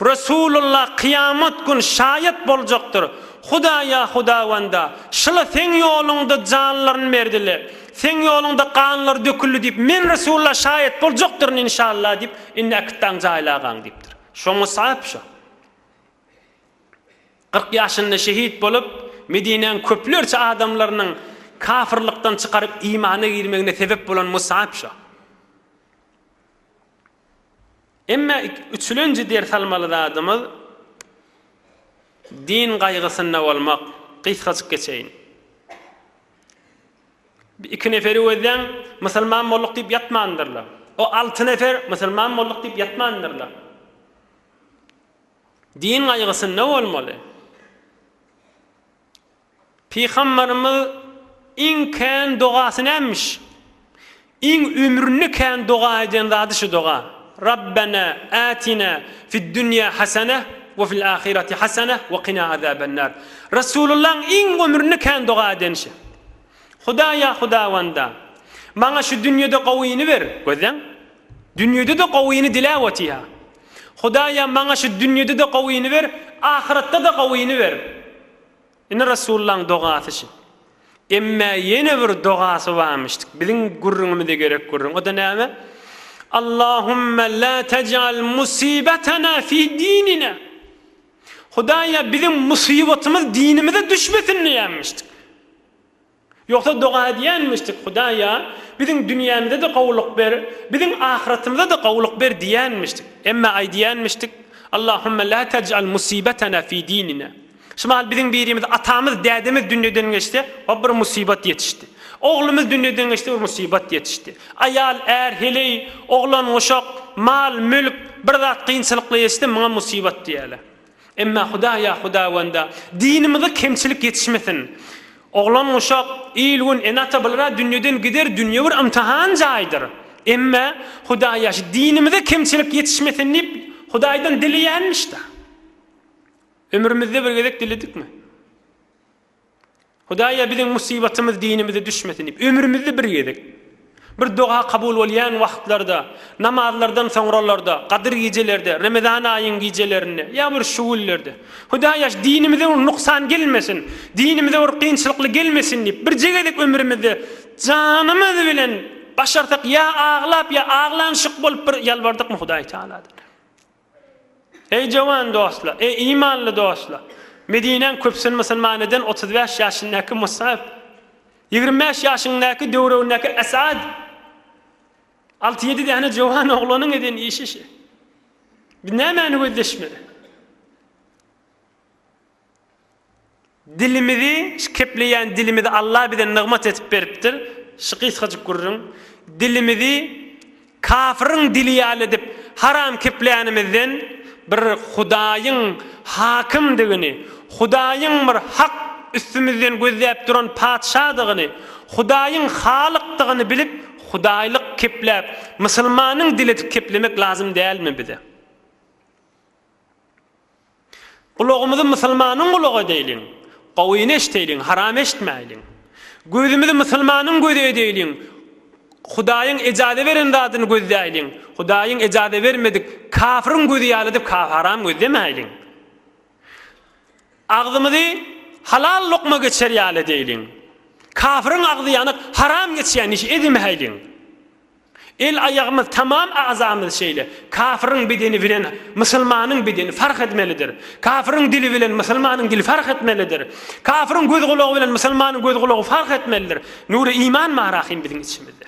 Resulullah kyýamat gün şaýat boljakdyr, Hudaýa Hudawanda, şyla Seň ýoluňda janlaryny berdiler, Seň ýoluňda ganlary döküldi diýip, men Resulullah şaýat boljakdyryn inşallah diýip, indi äkitdaň jaýlagaň diýipdir. Şo Musaýyp şo. Kyrk ýaşynda şehit bolup, Medinäň köplerçe adamlarynyň kafyrlykdan çykaryp imana girmegine sebep bolan Musaýyp şo. Emme üçülenji ders almaly zadymyz din gaýgysynda bolmak. Gysgajyk geçeýin. Iki neferi gözläň, musulman bolduk diýip ýatmandyrlar. O alty nefer musulman bolduk diýip ýatmandyrlar. Din gaýgysynda bolmaly. Pygamberimiz iň kän dogasy nämiş? Iň ömründe kän doga eden zady şu doga, Rabbena atina fid dunýa hasana we fil ahirati hasana we qina azabennar. Resulullah iň ömründe kän doga eden şi. Hudaý ýa Hudawanda, maňa şu dünýede gowyny ber, gözleň, dünýede-de gowyny diläp otyha. Hudaýa maňa şu dünýede-de gowyny ber, ahyratda-da gowyny ber. Ine Resulullahyň dogasy şi. Emmä ýene bir dogasy barmyşdyk. Biziň gürrüňimize gerek gürrüň. O-da näme? Allahümme la tec'al musibetena fi dinina. Hudaýa biziň musybatymyz dinimize düşmesin diýenmişdik. Ýogsa doga edýänmişdik, Hudaýa, biziň dünýämize-de gowulyk ber, biziň ahyretimize-de gowulyk ber diýýänmişdik. Emma aýdýanmişdik, Allahumma la taj'al musibetena fi dinina. Şumal biziň birimiz, atamyz, dädemiz dünýeden geçse, o bir musibat ýetişdi. Oglumyz dünýeden geçse, bir musibat ýetişdi. Aýal, är, heleý, oglan, uşak, mal, mülk, bir zat kynçylykly ýetişse, muňa musibat diýýärler. Emma Hudaýa hudawanda dinimize kemçilik ýetişmesin. Oglan-uşak, il-gün, ene-ata bular-a dünýeden gider, dünýe bir ymtahan jaýydyr. Emma Hudaýa şu dinimize kemçilik ýetişmesin diýip, Hudaýdan dileýänmiş-dä. Ömrümizde bir gezek diledikmi? Hudaýa biziň musibatymyz dinimize düşmesin diýip, ömrümizde bir gezek bir doga kabul bolýan wagtlarda, namazlardan soňralarda, gadyr gijelerde, remezan aýyň gijelerinde ýa bir şu günlerde, Hudaýaş, dinimize bir nuksan gelmesin, dinimize bir kynçylykly gelmesin diýip, birje gezek ömrümizde janymyz bilen başarsak ýa aglap ýa aglanyşyk bolup bir ýalbardykmy Hudaýtagaladan? Eý, jowan dostlar! Eý, imanly dostlar! Medinäň köpüsini musulman eden otuz bäş ýaşyndaky Musap, ýigrimi bäş ýaşyňdaky döwregindäki Esad, alty-ýedi däne jowan oglanyň eden işi şu. Biz nämäni gözleşmeli? Dilimizi kepleýän dilimizi Allah bize nygmat edip beripdir. Şu gysgajyk gürrüň. Dilimizi kafyryň dili ýaly edip haram kepleýänimizden bir Hudaýyň hakymdygyny, Hudaýyň bir hak üstümizden gözläp duran patyşadygyny, Hudaýyň halykdygyny bilip Hudaýlyk kepläp, musulmanyň dili edip keplemek lazym dälmi bize? Gulagymyzy musulmanyň gulagy edeýliň, gowyny eşdeýliň, haram eşitmäýliň. Gözümizi musulmanyň gözi edeýliň, Hudaýyň ejaza beren zadyny gözläýliň, Hudaýyň ejaza bermedik kafryň gözi ýaly edip haram gözlemäýliň. Agzymyzy halal lokma geçer ýaly edeýliň. Kafryň agzy ýanyk, haram geçýän işi edemäýliň. El-aýagymyz, tamam agzamyz şeýle. Kafiriň bedeni bilen musulmanyň bedeni fark edmelidir. Kafiriň dili bilen musulmanyň dili fark etmelidir. Kafiriň göz-gulagy bilen musulmanyň göz-gulagy fark etmelidir. Nury iman marahym biziň içimizde.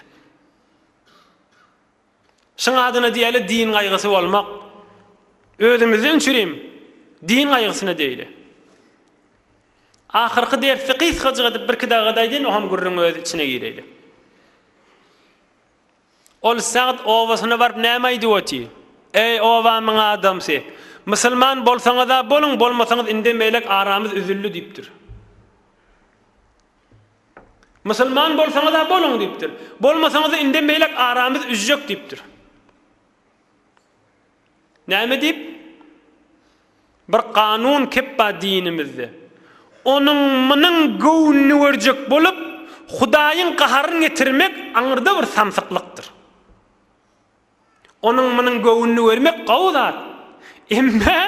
Şuň adyna diýeli din gaýgysy bolmak. Özümizde öňçürim din gaýgysyna deýli. Ahyrky dersi gysgajyk edip birki dagada aýdaýyn oham gürrüň öz içine gireýle. Ol Sa'd obasyna baryp näme aýdyp oty? Eý obamyň adamsy! Musulman bolsaňyza boluň bolmasaňyz indem elek aramyz üzüldi diýipdir. Musulman bolsaňyza boluň diýipdir. Bolmasaňyza indem elek aramyz üzjek diýipdir. Näme diýip? Bir kanun kepba dinimizde. Onuň munyň göwnüni görjek bolup, Hudaýyň gaharyny getirmek aňyrda bir samsyklykdyr. Onuň munyň göwnüni görmek gowy zat. Emme,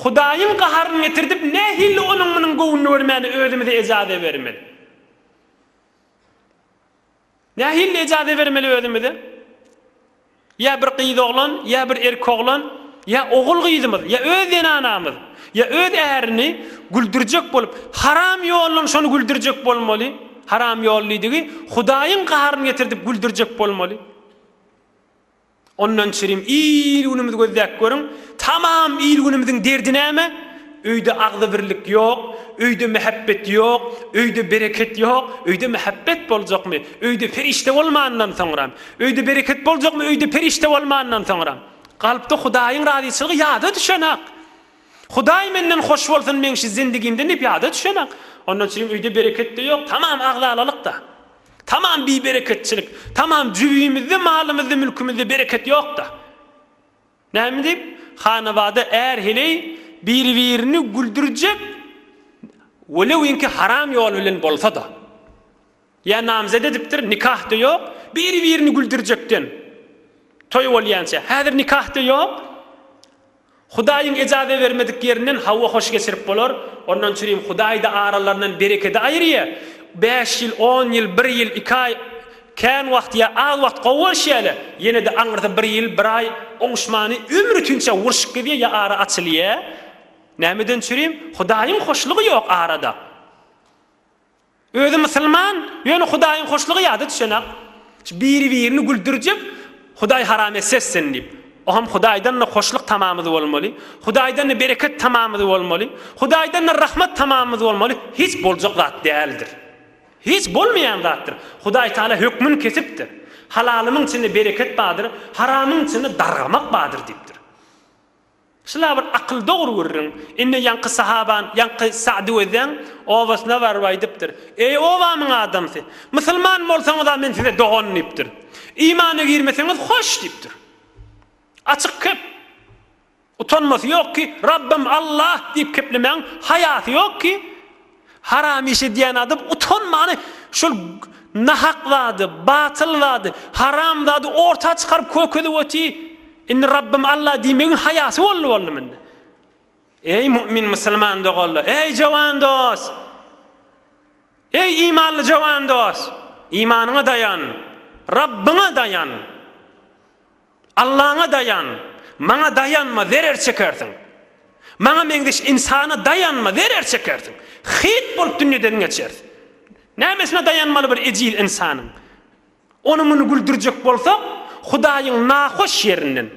Hudaýyň gaharyny getirdip, nähili onuň munyň göwnüni görmäni özümize ejaze bermeli? Nähili ejaze bermeli özümize? Ýa bir gyz oglan, ýa bir erki oglan, ýa ogul gyzymyz, ýa öz zenanamyz, ýa öz ärini güldürjek bolup, haram ýollan şony güldürjek bolmaly, haram ýollydigi Hudaýyň gaharyny getirdip güldürjek bolmaly. Ondan çirim il-günümizi gözläp görüň, tamam il-günümiziň derdi näme? Öýde agzybirlik ýok, öýde mähebbet ýok, öýde bereket ýok, öýde mähebbet boljakmy, öýde perişde bolmandan soňram, öýde bereket boljakmy, öýde perişde bolmandan soňram? Kalpda Hudaýyň razyçylygy ýada düşenak. Hudaý menden hoş bolsun meň şu zindigimden ne pyada düşenak. Ondan çygyň öýde bereketde ýok tamam agzalalykda. Tamam bi bereketçilik. Tamam jübimizde malymyzda mülkümizde bereket ýokda. Näme diýip hanabada är heleý biri birini güldürjek welewinki haram ýol bilen bolsada. Ýa namzet edipdir, nikah-da ýok, biri-birini güldürjekden toý bolýança, häzir nikah-da ýok, Hudaýyň ejaza bermedik ýerinden hawa hoş geçirip bolar, ondan çürim Hudaý-da aralaryndan berekedi aýyrýa, bäş ýyl, on ýyl, bir ýyl, iki aý, kän wagt ýa az wagt gowy bolşýarlar, ýene-de aňyrda bir ýyl, bir aý oňuşmany ömür ütinçä urşup gezýär ýa ara açylýa, nämeden çürim, Hudaýyň hoşlugy ýok arada. Özi musulman ýöne hudaýyň hoşlugy ýada düşenak biri birini güldürjek hudaý haram etsessin diýip oham hudaýdanda hoşluk tamamyz bolmaly hudaýdanda bereket tamamyz bolmaly hudaýdanda rahmat tamamyz bolmaly hiç boljak zat däldir hiç bolmaýan zatdyr hudaý taala hökmün kesipdir halalymyň içinde bereket bardyr haramyň içinde dargamak bardyr diýipdir. Şula bir akyl dogry gürrüň. Indi ýaňky sahaban, ýaňky Sa'dy gözläň, obasyna baryp aýdypdyr, Eý, obamyň adamsy! Musulman bolsaňyz-a men size dogan diýipdir. Imana girmeseňiz hoş diýipdir. Açyk kep. Utanmasy ýok ki, Rabbym Allah diýip keplemäň, haýasy ýok ki, Haram iş edýän adam utanmany şol nahak zady, batyl zady, haram zady orta çykaryp kökezip oty, indi Rabbym Allah diýmegiň haýasy boldy boldy mende. Eý mu'min musulman doganlar, eý jowan dos! Eý imanly jowan dos! Imanyňa daýan, Rabbyňa daýan! Allaňa daýan, maňa daýanma, zerer çekersiň. Maňa meňzeş ynsana daýanma, zerer çekersiň. Hyt bolup dünýeden geçers. Nämesine daýanmaly bir ejiz ynsanyň? Ony muny güldürjek bolsak, Hudaýyň nahoş ýerinden.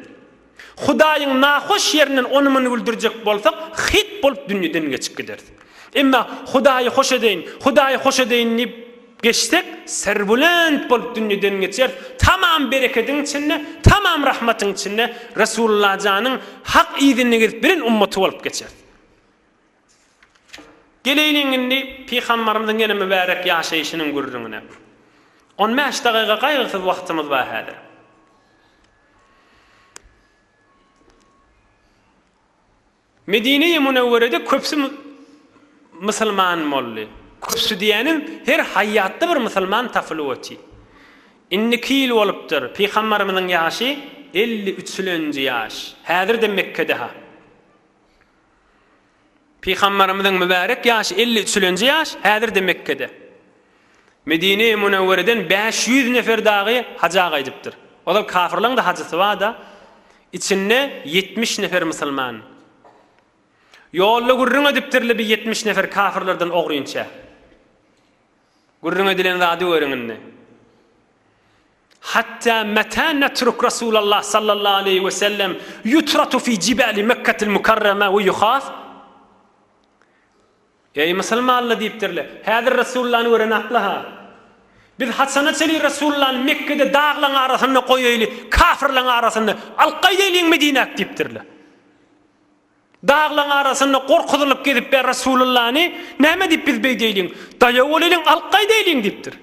Hudaýyň nahoş ýerinden ony muny güldürjek bolsak, hyt bolup dünýeden geçip gideris. Emma Hudaýy hoş edeýin, Hudaýy hoş edeýin diýip, Geçsek serwulent bolup dünýeden geçeris tamam berekediň içinde tamam rahmatyň içinde Resullajanyň hak yzynda gezip bilen ummaty bolup geçeris. Geleýliň indi Pygambarymyzyň ýene mübärek ýaşaýşynyň gürrüňine. On bäş dagyga gaýgysyz wagtymyz bar häzir. Medine-i Munewwerede köpsi Musulman boldy. Köpsi diýänim her haýýatda bir Musulman tapylyp oty. Indiki ýyl bolupdyr, Pygambarymyzyň ýaşy elli üçlenji ýaş. Häzir-de Mekkedeha. Pygambarymyzyň mübärek ýaşy elli üçlenji ýaş, häzir-de Mekkede. Medine-i Münewwereden bäş ýüz nefer dagy haja gaýdypdyr. Ozal kafyrlaryň-da hajysy bar-da, içinde ýetmiş nefer musulman. Ýolda gürrüň edipdirli bi ýetmiş nefer kafyrlardan ogrynça. Gürrüň edilen zady görüň indi. Hatda meta natruk Rasulallah sallallahu aleýhi we sellem yutratu fi jibali Mekketil Mukarrama we yuhas Eý, musulmanlar! diýipdirler. Häzir Resulllany gören asla-ha, Biz haçana çenli Resulllany Mekgede daglaryň arasynda goýaýly, kafirleriň arasynda alyp gaýdaýlyň Medinäk? diýipdirler. Daglaryň arasynda gorkuzylyp gezip bä Resulllany näme diýip biz beýdeýliň? Daýaw bolaýlyň, alyp gaýdaýlyň diýipdir.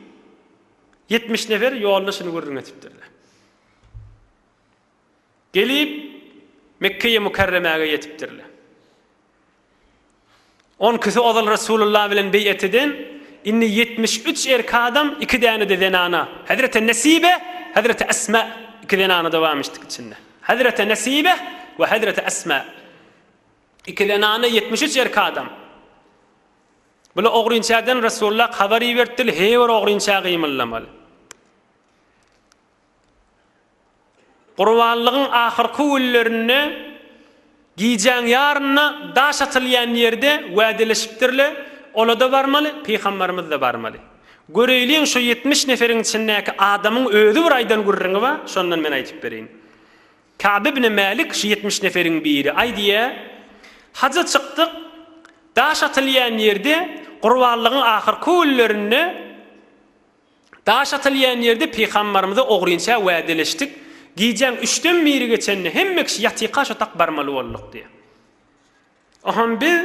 Ýetmiş nefer ýolda şuny gürrüň etipdirler. Gelip, Mekgeýi Mukärremäge ýetipdirler. On kisi ozal Resulullah bilen beýat eden, indi ýetmiş üç erki adam, iki däne-de zenana, Hezreti Nesibeh, Hezreti Esma, iki zenana-da barmyşdyk içinde. Hezreti Nesibeh we Hezreti Esma. Iki zenana, ýetmiş üç erki adam. Bula ogrynçäden Resulullah habar iberipdirler, her bir ogrynça gymyldamaly. Gurbanlygyň ahyrky günlerinde gijäň ýaryna daş atylýan ýerde wädeleşipdirler, ola-da barmaly, pygambarymyz-da barmaly. Göreýliň şo ýetmiş neferiň içindäki adamyň özi bir aýdan gürrüňi bar, şondan men aýdyp bereýin. Kab ibn Mälik şu ýetmiş neferiň biri. Aýdýar, Haja çykdyk, daş atylýan ýerde Gurbanlygyň ahyrky günlerinde, Daş atylýan ýerde pygambarymyza ogrynça wädeleşdik, gijäň üçden biri geçende hemme kişi ýatyka şotak barmaly bolduk diýýär. Oňam biz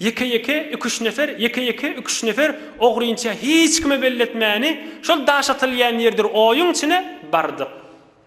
ýeke-ýeke iki-üç nefer, ýeke-ýeke iki-üç nefer ogrynça hiç kime belletmäni şol daş atylýan ýerdir oýuň içine bardyk.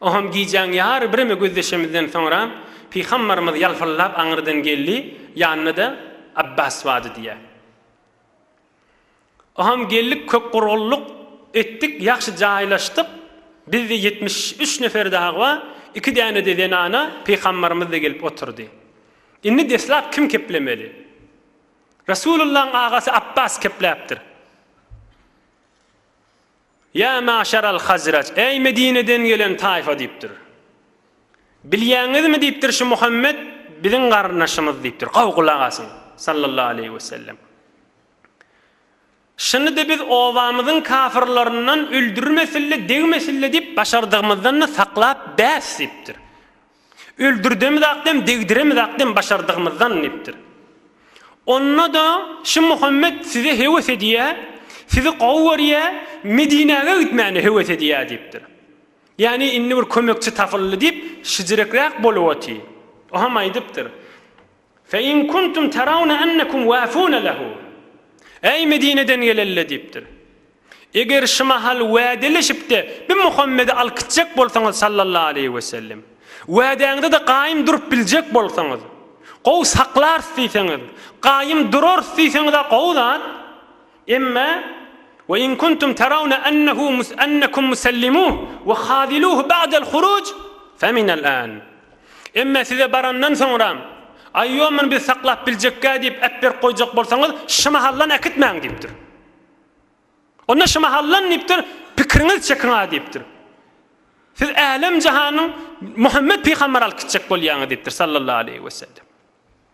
Oham gijäň ýary bireme gözleşemizden soňra pygambarymyz ýalpyllap aňyrdan geldi, ýanynda-da Abbas bardy diýýär. Oham geldik kökgurgunlyk etdik, ýagşy jaýlaşdyk, bizde ýetmiş üç nefer dagy bar, iki däne-de zenana, pygambarymyz-da gelip oturdy. Indi deslap kim keplemeli? Resulyllaň agasy Abbas kepläpdir. Ýa maşar al-Hazraç, äý Medineden gelen taýfa diýipdir. Bilýäňizmi diýipdir, şu Muhammet biziň garyndaşymyz diýipdir. Gowy gulak asyň, sallallahu aleýhi wesellem. Şuny-da biz obamyzyň kafyrlaryndan öldürmesin-le, degmesin-le diýip, başardygymyzdan-da saklap bäs diýipdir. Öldürdemizak dem, degdiremizak dem başardygymyzdan diýipdir. Onda-da şu Muhammet size höwes edýä, sizi gowy görýä, Medinäge gitmäne höwes edýä diýipdir. Ýagny indi bir kömekçi tapyldy diýip, şijirekräk bolup otyr. Oham aýdypdyr. Fe in kuntum terawne ennekum wafune lehu, Eý, Medineden gelenle diýipdir. Eger şu mahal wädeleşip-de bi Muhammedi alyp gitjek bolsaňyz sallallahu aleýhi wesellem, wädäňde-de gaýym durup biljek bolsaňyz, gowy saklarys diýseňiz, gaýym durarys diýseňiz-ä gowy zat, Emma, Wa in kuntum tarawna annahu mus annakum musallimuh wa khaziluh ba'dal khuruj fa minal an. Emma size barandan soňram, Aýýo muny biz saklap biljekgä diýip ep berip goýjak bolsaňyz, şymahallan äkitmäň diýipdir. Onda şymahallan diýipdir, pikiriňiz çekiň-ä diýipdir. Siz älem-jahanyň Muhammet pygamber alyp gitjek bolýaňyz diýipdir sallallahu aleýhi wesellem.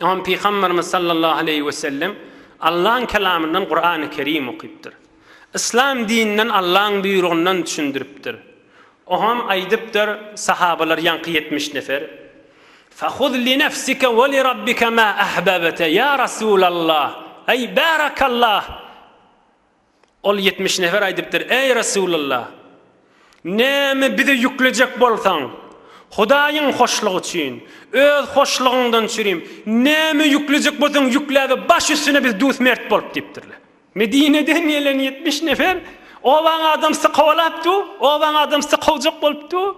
Oňa Pygamberimiz sallallahu aleýhi we sellem Allaň kelamyndan Kurany Kerim okypdyr. Yslam dininden Allaň buýrugyndan düşündiripdir. Oňam aýdypdyr, sahabalar ýaňky ýetmiş nefer, Fahuz li nefsike we li Rabbike ma ahbabte, ýa Resulallah, eý barakallah! Ol ýetmiş nefer aýdypdyr, Eý, Resulalla! Näme bize ýüklejek bolsaň, Hudaýyň hoşlugy üçin, öz hoşlugyňdan çürim, näme ýüklejek bolsaň ýükläge, baş üstüne biz dusmert bolup diýipdirler. Medineden gelen ýetmiş nefer obaň adamsy kowalap dur, obaň adamsy kowjak bolup dur.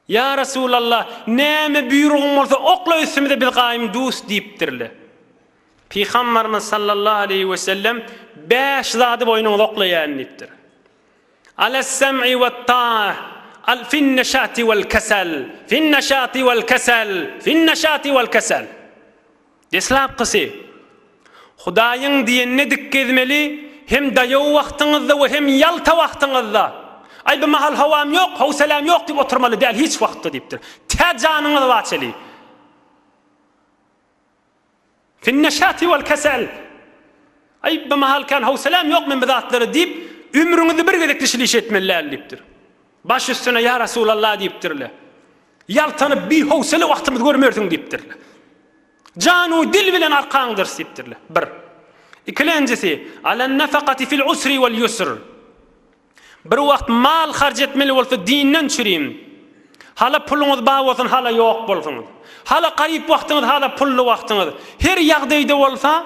Ýa Resulallah, näme buýrugyň bolsa okla üstümize biz gaýym dus diýipdirler. Pygamberimiz sallallahu aleýhi we sellem, Bäş zady boýnuňyza oklaýaýyn diýipdir. Alas-sam'i wat-taah, al fin-neşati wal-kesal, fin-neşati wal-kesal, fin-neşati wal-kesal. Deslapkysy, Hudaýyň diýenine dik gezmeli, hem daýaw wagtyňyzda we hem ýalta wagtyňyzda. Aý, bu mahal howam ýok, howsalam ýok diýip oturmaly däl hiç wagtda diýipdir. Tä janyňyz baçeli. Fin-neşati wal-kesel, Aý, bu mahal kän howsalam ýok men bu zatlara diýip, ömrüňizi bir gezek dişli iş etmeli däl diýipdir. Baş üstüne ýa Resulallah diýipdirler. Ýaltanyp bihowsele wagtymyz görmersiň diýipdirler. Janu dil bilen arkaň dyrs diýipdirler. Bir. Ikilenjisi, Alen nefakati fil usri wal yusr. Bir wagt mal harç etmeli bolsa dinden çürim. Hala puluňyz bar bolsun hala ýok bolsun. Hala garyp wagtyňyz hala pully wagtyňyz. Her ýagdaýda bolsa,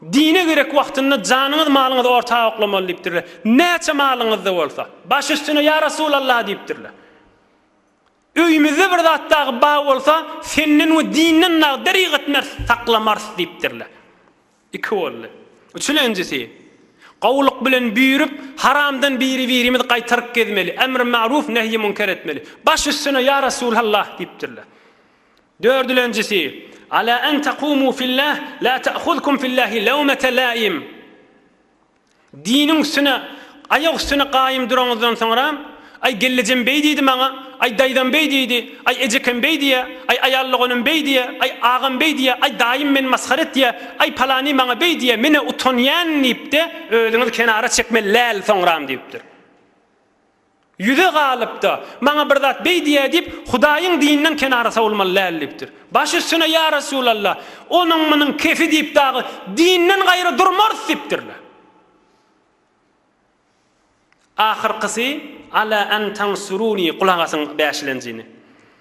Dine gerek wagtynda janyňyz malyňyz orta oklamaly diýipdirler. Näçe malyňyzda bolsa. Baş üstüne ýa Resulallah diýipdirler. Öýümizde bir zat dagy bar bolsa senden we dinden dagy derik etmeris saklamaris diýipdirler. Iki boldy. Üçülenjisi, Gowulyk bilen büýrüp haramdan biri birimiz gaýtaryp gezmeli, emri ma'ruf nehyi münker etmeli. Baş üstüne ýa Resulallah diýipdirler. Dördülenjisi, Ala an takumu fillah la ta'huzkum fillahi lawmata laim. Diniň üstüne, aýak üstüne gaýym duraňyzdan soňra, Aý, gelnejem beý diýdi maňa, aý, daýzam beý diýdi, aý, ejekem beý diýýä, aý, aýal doganym beý diýýä, aý, agam beý diýýä, aý, daýym meni masgara etýä, aý, palany maňa beý diýýä, men-ä utanýan diýip-de, özüňizi kenara çekmeli läl soňram diýipdir. Ýüze galyp-da, maňa bir zat beý diýä diýip, Hudaýyň dininden kenara sowulmaly däl diýipdir. Baş üstüne, Ýa Resulalla, onuň-munuň kefi diýip dagy dinden gaýry durmarys diýipdirler. Ahyrkysy, Ala an tansuruni, gulak asyň, bäşilenjini.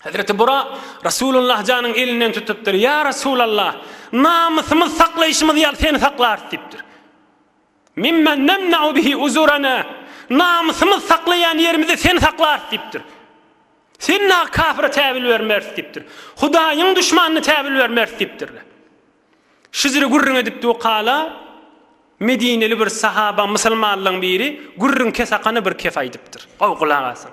Hezreti Burak Rasulullah janyň elinden tutupdyr, Ýa Rasulallah, namysymyz saklaýşymyz ýaly seni saklarys diýipdir. Mimmen nemna'u bihi uzurana, namysymyz saklaýan ýerimizi seni saklarys diýipdir. Sen na kafira täwil bermeris diýipdir. Hudaýyň düşmanyna täwil bermeris diýipdirler. Şizri gürrüň edip dukala Medineli bir sahaba musulmanlaryň biri gürrüň kesakany bir kes aýdypdyr. Gowy gulak asyň.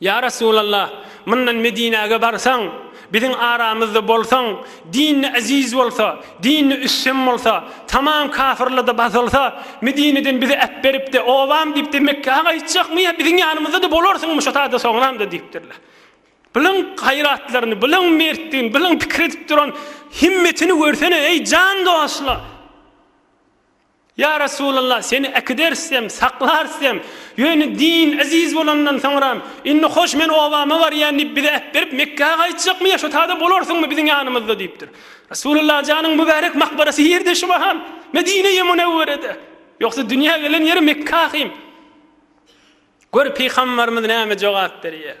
Ýa Resulallah, mundan Medinäge barsaň, biziň aramyzda bolsaň, dini eziz bolsa, dini üstün bolsa, tamam kafirlerde basylsa, Medineden bizi äpberip-de, obam diýip-de Mekgä gaýtjakmy ýa biziň ýanymyzda-da bolarsyňmy şo sada soňramda diýipdirler. Bunuň gaýratlaryny, bunuň mertdigini, bunuň pikir edip duran himmetini görsene, eý, jan dostlar! Ýa Resulallah, seni äkiderisem, saklarsem, ýöne din eziz bolandan soňram, indi hoş men obama barýan diýip bize äpberip Mekgä gaýtjakmy ýa şo tada bolarsyňmy biziň ýanymyzda diýipdir. Resulallah janyň mübärek makbarasy ýerde şu mahal, Medine-i Munewwerede. Ýogsa dünýä gelen ýeri Mekge ahym. Gör pygambarymyz näme jogap berýär.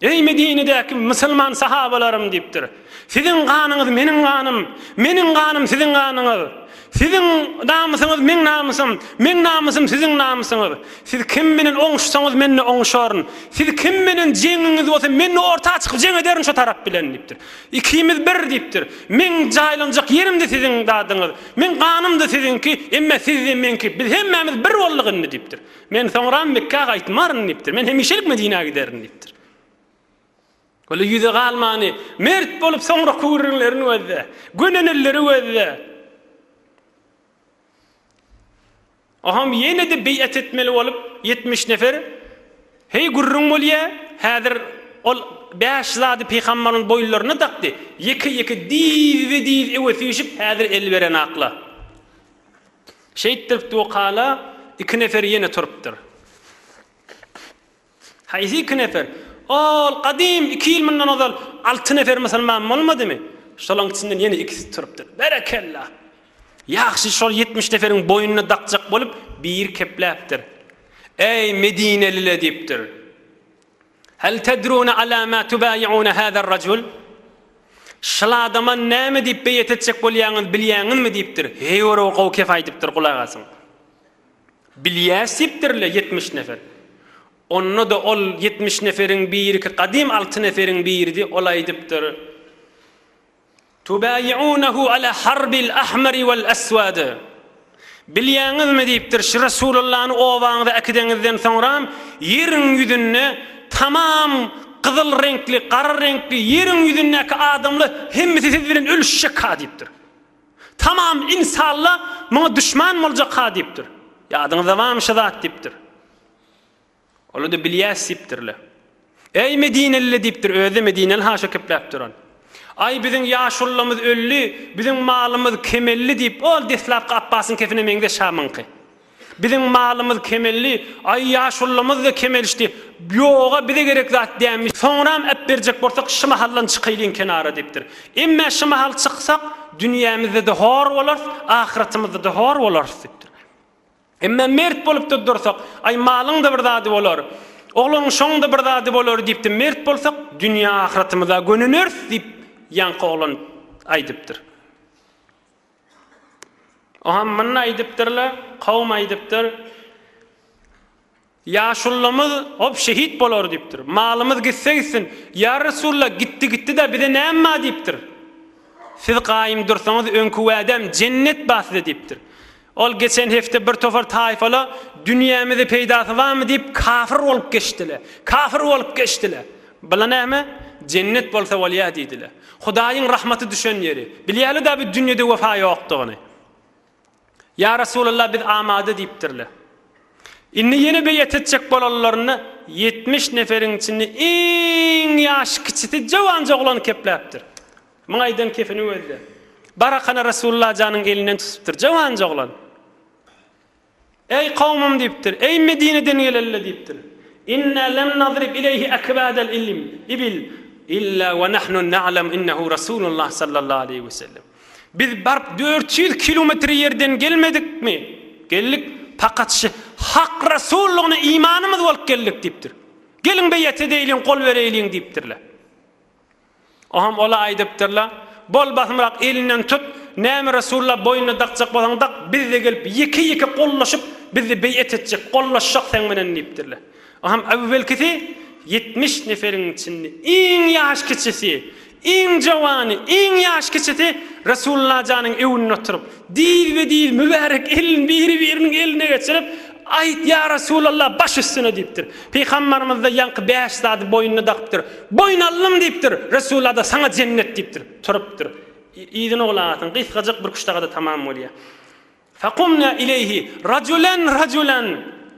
Eý Medinedäki musulman sahabalarym diýipdir. Siziň ganyňyz meniň ganym, meniň ganym siziň ganyňyz. Siziň namysyňyz meň namysym, meň namysym siziň namysyňyz. Siz kim bilen oňuşsaňyz men-de oňuşaryn. Siz kim bilen jeňiňiz bolsa men-de orta çykyp jeň ederin şo tarap bilen diýipdir. Ikimiz bir diýipdir. Meň jaýlanjak ýerim-de siziň zadyňyz, meň ganym-da siziňki, emma siz-de meňki. Biz hemmämiz bir bolduk indi diýipdir. Men soňram Mekgä gaýtmaryn diýipdir. Men hemişelik Medinä giderin diýipdir. Weli ýüze galmany, mert bolup soňra küwrüňlerin gözle, gönenilleri gözle. Oham ýene-de beýat etmeli bolup ýetmiş nefer, Heý gürrüň bolýa, häzir ol bäş zady pygambaryň boýunlaryna dakdy, ýeke-ýeke diz-be-diz öwüsişip häzir el berenakla. Şeýtdirip dukala iki nefer ýene turupdyr. Haýsy iki nefer? Ol gadym iki ýyl mundan ozal alty nefer musulman bolmadymy? Şolaň içinden ýene ikisi turupdyr. Berekella! Ýagşy şol ýetmiş neferiň boýnuna dakjak bolup biri kepläpdir. Äý, medinelile! diýipdir. Hal tedruna ala ma tubayyuna hazar rajul? Şyl adama näme diýip beýet etjek bolýaňyz bilýäňizmi? diýipdir. Heý ora gowy kep aýdypdyr gulak asyň. Bilýäs diýipdirle ýetmiş nefer. Onda-da ol ýetmiş neferiň biriki gadym alty neferiň biridi, ol aýdypdyr. Tubaýiunehu ala harbil ahmari wal aswadi. Bilýäňizmi, diýipdir, şu Resulallany obaňyza äkideňizden soňram, ýeriň ýüzünde tamam gyzyl reňkli, gara reňkli, ýeriň ýüzündäki adamlar hemmesi siz bilen ölüşjekha, diýipdir. Tamam ynsanla muňa duşman boljakha, diýipdir. Ýadyňyzda barmy şu zat, diýipdir. Olar-da bilýäs diýipdirler. Eý, medineliler diýipdir, özi-de medineli haşa kepläp duran. Aý, biziň ýaşulylarymyz öldi, biziň malymyz kemeldi diýip, ol deslapky Apbasyň kepine meňzeş şamyňky. Biziň malymyz kemeldi, aý, ýaşulylarymyz-da kemelişdi. Ýog-a, bize gerek zat dänmiş. Soňram äpberjek bolsak, şy mahaldan çykaýlyň kenara diýipdir. Emme şy mahal çyksak, dünýämizde-de hor bolarys, ahyratymyzda-da hor bolarys diýipdirler. Emma mert bolup-da dursak, Aý, malyň-da bir zady bolar, ogluň şoň-da bir zady bolar diýip-de mert bolsak, dünýä-ahyratymyza gönüneris diýip, ýaňky oglan aýdypdyr. Oňa myn aýdypdyr-la, kowum aýdypdyr. Ýaşullamyz hop şehit bolar diýipdir. Malymyz gitse gitsin. Ýa Resulla gitdi gitdi-de bize näme bar diýipdir. Siz gaýym dursaňyz öňki wädäm jennet bar size diýipdir. Ol geçen hepde bir topar taýfala dünýämizi peýdasy barmy diýip kafir bolup geçdiler. Kafir bolup geçdiler. Bula näme? Jennet bolsa bolýa diýdiler. Hudaýyň rahmaty düşen ýeri. Bilýäli-dä bu dünýede wepa ýokdugyny. Ýa Resulallah, biz amada diýipdirler. Indi ýene beýat etjek bolanlarynda ýetmiş neferiň içinde iň ýaşy kiçisi jowanja oglany kepläpdir. Muňa aýdan kefini gözle. Barakana Resulallah janyň elinden tutupdyr, jowanja oglan. Eý kowmym diýipdir, eý Medineden gelenler diýipdir. Inna lem nadrib ileýhi akbadal ilim, ibil, illa we nahnu na'lem innehu Rasulullah sallallahu aleýhi we sellem. Biz baryp dört ýüz kilometre ýerden gelmedikmi? Geldik, fakat şy Hak Rasullygyna imanymyz bolup geldik diýipdir. Geliň beýat edeýliň, gol bereýliň diýipdirler. Oňam ola aýdypdyrlar, Bol basymrak elinden tut, näme Resulla boýnuna dakjak bolsaň dak, bizde gelip ýeke-ýeke gollaşyp, bizi beýet etjek, gollaşjak seň bilen diýipdirler. Oňam öwwelkisi ýetmiş neferiň içinde iň ýaş kiçisi, iň jowany, iň ýaş kiçisi Resullajanyň öwünde oturyp, Diýilbe-diýil mübärek elini biri-biriniň eline geçirip, Aýt, ýa Resulallah, baş üstüne diýipdir. Pygambarymyz-da ýaňky bäş zady boýnuna dakypdyr. Boýun aldym diýipdir. Resullada saňa jennet diýipdir. Turupdyr. Yzyna oglan atyn gysgajyk bir küştagada tamam bolýar. Faqumna ileýhi rajulan rajulan.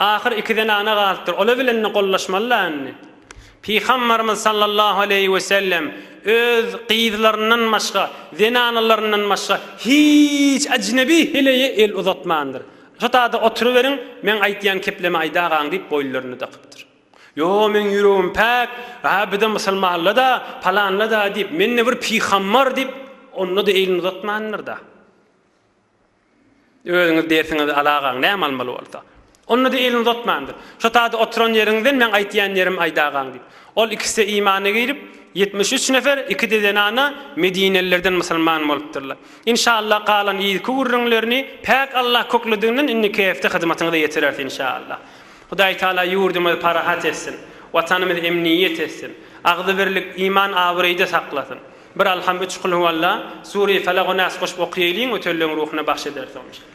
Ahyr iki zenana galypdyr. Ola bilen-de gollaşmaly-la indi. Pygamberimiz sallallahu aleýhi we sellem öz gyzlaryndan başga, zenanalaryndan başga hiç ajnebi heleýe el uzatmandyr. Şotada oturyberiň, meň aýtýan keplemi aýdagaň diýip boýunlaryna dakypdyr. Ýo, meň ýüregim päk, ha bir-de musulmanla-da, palanla-da diýip, men-de bir pygamber diýip, onda-da elini uzatmandyr-da. Özüňiz dersiňizi alagaň, näme almaly bolsa. Onda-da elini uzatmandyr. Şo taýda oturan ýeriňizden meň aýtýan ýerimi aýdagaň diýip. Ol ikisi-de imana girip, ýetmiş üç nefer, iki-de zenana medinelilerden musulman bolupdyrlar. Inşaallah galan yzky gürrüňlerini päk Allah köklediginden indiki hepde hyzmatyňyza ýetireris inşaallah. Hudaý Taala ýurdumyzy parahat etsin, Watanymyzy emniýet etsin, agzybirlik, iman-abraýda saklasyn. Bir Alham üç Kul Huwalla, Sureýi Felak we Nas goşup okyýeýliň we töllüň ruhuna bagş ederis ony inşallah.